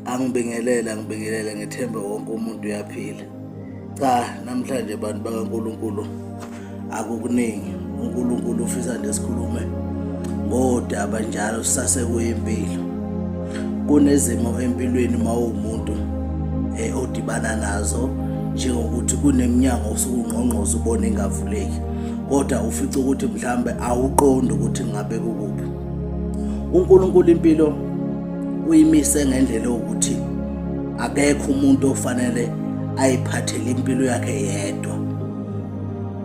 angibingelele angibingelele ngethembe wonke umuntu uyaphila cha namhlanje bantu bakaNkuluNkulu akukuningi uNkuluNkulu ufisa nje sikhulume ngodaba njalo sasekuyimpilo kunezimo empilweni mawumuntu eh, odibana nazo njengokuthi kuneminyango osuke ungqongqoza ubona ingavuleki kodwa ufica ukuthi mhlambe awuqondi ukuthi ngabe kukuphi uNkulunkulu impilo uyimise ngendlela ukuthi akekho umuntu ofanele ayiphathele impilo yakhe yedwa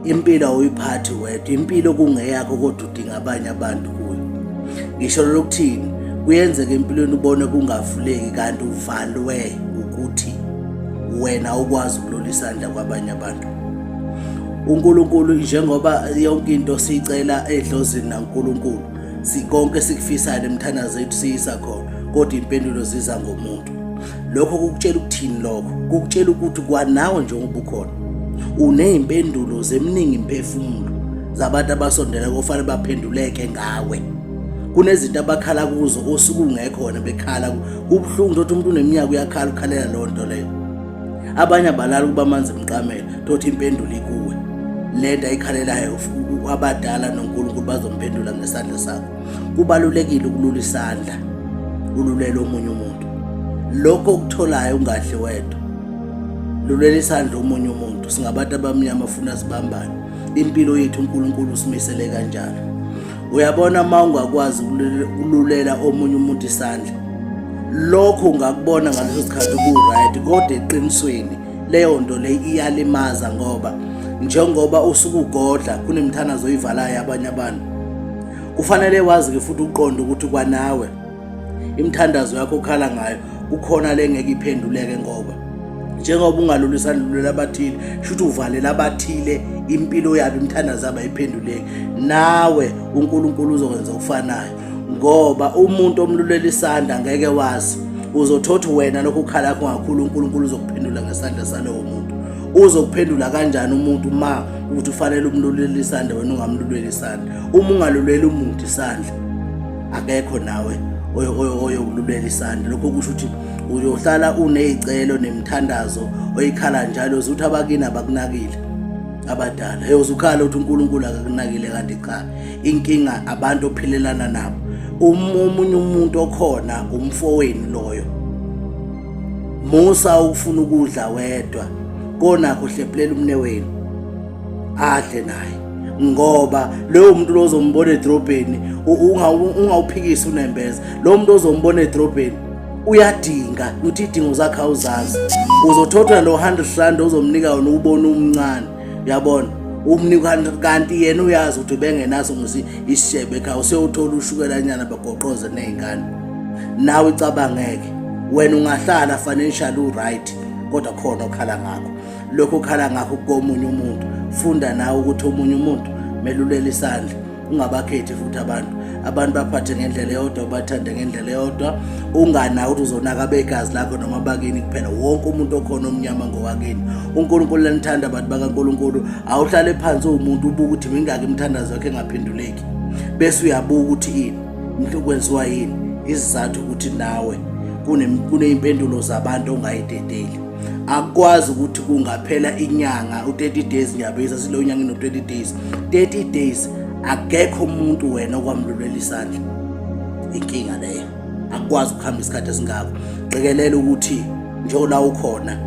impilo awuyiphathi wedwa impilo kungeyakho kodwa udinga abanye abantu kuyo ngisho lokuthini kuyenzeka empilweni ubone kungavuleki kanti uvalwe ukuthi wena ukwazi ukulula isandla kwabanye abantu uNkulunkulu njengoba yonke into siyicela edlozini naNkulunkulu sikonke sikufisayo nemthandazo yethu siyisa khona kodwa impendulo ziza ngomuntu lokho kukutshela ukuthini lokho kukutshela ukuthi kwanawe njengoba ukhona uney'mpendulo zeminingi imphefumulo zabantu abasondela kofanele baphenduleke ngawe kunezinto abakhala kuzo osuke ungekho wena bekhala kubuhlungu ukuthi umuntu uneminyaka uyakhala ukhalela loo nto leyo abanye abalala ukuba amanzi emqamela tothi impendulo ikuwe le nto ayikhalelayo abadala nonkulunkulu bazomphendula ngesandla sakho kubalulekile ukulula isandla ululele omunye umuntu lokho okutholayo ungadli wedwa lulela isandla omunye umuntu singabantu abamnyama funa sibambane impilo yethu unkulunkulu usimisele kanjalo uyabona uma ungakwazi ukululela omunye umuntu isandla lokho ungakubona ngaleso sikhathi uku-right kodwa eqinisweni leyo nto leyo iyalimaza ngoba njengoba usuke ugodla kunemithanazo oyivalayo abanye abantu kufanele wazi-ke futhi uqonde ukuthi kwanawe Imthandazo yakho ukhala ngayo kukhona lengeke iphenduleke ngoba njengoba ungalulisani lulela abathile shuthi uvalela abathile impilo yabo imthandazo yabo ayiphenduleki nawe uNkulunkulu uzokwenza okufanayo ngoba umuntu omlulela isandla ngeke wazi uzothothi wena lokhu ukhala yakho ngakhulu uNkulunkulu uzokuphendula ngesandla salowo muntu uzokuphendula kanjani umuntu ma ukuthi ufanele umlulele isandla wena ungamluleli isandla uma ungaluleli umuntu isandla akekho nawe oyokululeka isandla lokho kusho ukuthi uyohlala uney'celo nemithandazo oyikhala njalo uze ukuthi abakini abakunakile abadala yoze ukhala ukuthi unkulunkulu akakunakile kanti cha inkinga abantu ophilelana nabo omunye umuntu okhona umfowenu loyo musa ukufuna ukudla wedwa konakho hlephulela umne wenu adle naye ngoba loyo muntu lo ozombona edrobheni ungawuphikisi unembeza lowo muntu ozombona edrobheni uyadinga ukuthi idingo zakhe awuzazi uzothothwa lo 100 rand ozomnika yona ubona umncane uyabona umnika kanti yena uyazi ukuthi bengenaso ngosi isishebe ekhaya usewuthola ushukelanyana bagoqoze nezingane nawe icabangeke wena ungahlala financial uright kodwa khona okhala ngakho lokho ukhala ngakho komunye umuntu funda nawe ukuthi omunye umuntu melulela isandla ungabakhethi futhi abantu abantu baphathe ngendlela eyodwa ubathande ngendlela eyodwa ungana ukuthi uzonaka begazi lakho noma bakini kuphela wonke umuntu okhona omnyama ngowakini unkulunkulu lanithanda abantu bakankulunkulu awuhlale phansi uwumuntu ubuka ukuthi mingaki imithandazo yakhe engaphenduleki bese uyabuka ukuthi ini into kwenziwa yini isizathu ukuthi nawe kuneyimpendulo zabantu ongayidedeli akwazi ukuthi kungaphela inyanga u-30 days ngiyabiza silo nyanga ino-30 days 30 days akekho umuntu wena okwamlulwela isandla inkinga leyo akwazi ukuhamba isikhathi esingako qikelela ukuthi njengola ukhona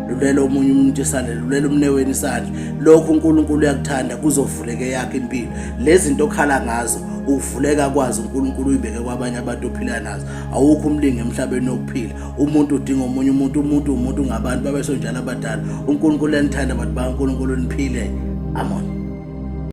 lulela omunye umuntu isandla lulela umneweni isandla lokho uNkulunkulu uyakuthanda kuzovuleke yakhe impilo lezi zinto okhala ngazo uvuleka kwazi uNkulunkulu uyibeke kwabanye abantu ophila nazo awukho umlingi emhlabeni okuphila umuntu udinga omunye umuntu umuntu umuntu ngabantu babesonjalo abadala unkulunkulu enithanda bantu bankulunkulu niphile amona